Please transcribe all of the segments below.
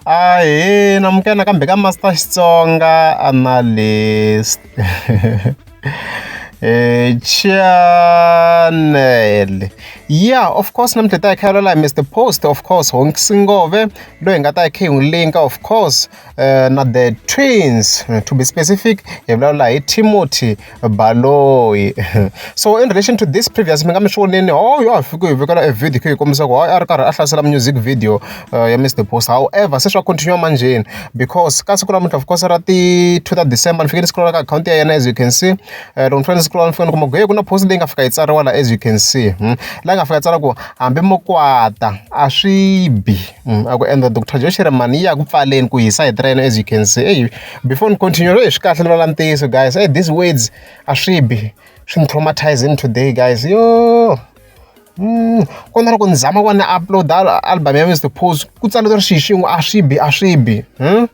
Ahee, na amukela nakambe ka Master Xitsonga Analyst. Channel. Yeah, of course namuntlha hi ta hi kha hi vulavula hi Mister Post of course Honk Singove loyi hi nga ta hi kha hi n'wi link-a of course. Eh, na the twins to be specific hi vulavula hi timothy baloyi so in relation to this previous mi nga mi swi voneni oh yo a fiki hi vekela e video khe hi kombisa ku a ri karhi a hlasela music video uh, ya mr post however se swa continue manjheni because ka siku namuntlha of course ra ti two ta december ni fike ni scrolla ka akhawunti ya yena as you can see eh, loko ni fanele ni scrolla ni fika ni kuma ku he ku na post leyi nga fika yi tsariwa la as you can see hmm? laha nga fika tsala ku hambi mo kwata a swi bi a ku endla doctor Joe Shirimani yi ya ku pfaleni ku hisa hi train as you can see eyi before ni continue eyi swi kahle ni vulavula ntiyiso guys eyi these words a swi bi swi ni traumatizing today guys yo hmm, ku na loko ni zama ku va ni upload album ya Mister Pose ku tsala ku ri xi xin'we a swi bi a swi bi hmm?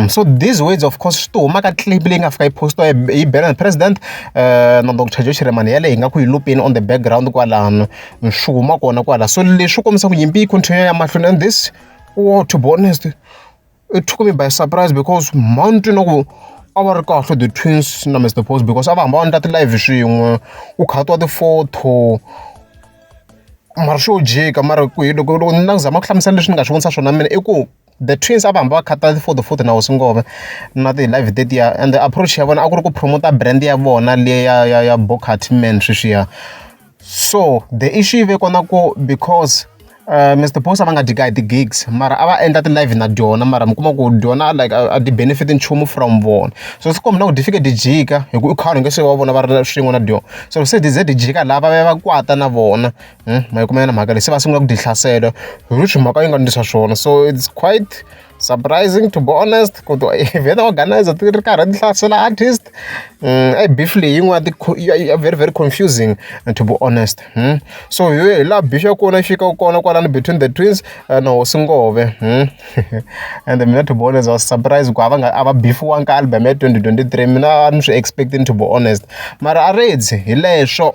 so these words of course swi to huma ka clip leyi nga fika yi post-iwa hi hi Benan president na Doctor Joe Shirimani yaleyo hi nga ku yi lupeni on the background kwalano swi huma kona kwala so leswi kombisa ku nyimpi yi continue ya mahlweni and this war to be honest it took me by surprise because mount you know a va ri kahle the twins na Mr Post because a va hamba va endla ti-live swin'we u khatiwa ti-photo mara swo jika mara ku hi loko loko ni na ku zama ku hlamusela leswi ni nga swi vonisa swona mina i ku The twins a va hamba va khata ti-photo photo na hosi Ngome na ti-live tetiya ende approach ya vona a ku ri ku promote-a brand ya vona liya ya ya ya Booker Man sweswiya. So the issue yi ve kona ku because Mister Boss a va nga dyi kahle ti-gigs mara a va endla ti-live na dyona mara mi kuma ku dyona like a a ti-benefit-i nchumu from vona. So swi komba na ku ti fike ti jika hikuva i khale u nge se va vona va ri swin'we na dyona. So se ti ze ti jika laha va ya va kwata na vona, ma yi kuma yona mhaka leyi se va sungula ku dyi hlasela hi ri swi mhaka yi nga ndlisa swona so it's quite surprising to be honest ku twa event organizer ti ri karhi ti hlasela artist a yi beef leyi yin'wana ya very very confusing to be honest so hi hi laha beef ya kona yi fikaka kona kwalano between the twins na hosi ngove and mina to be honest was surprise ku a va nga a va beefiwanga ka album ya 2023 mina a ni swi expecting to be honest mara a redzi hi leswo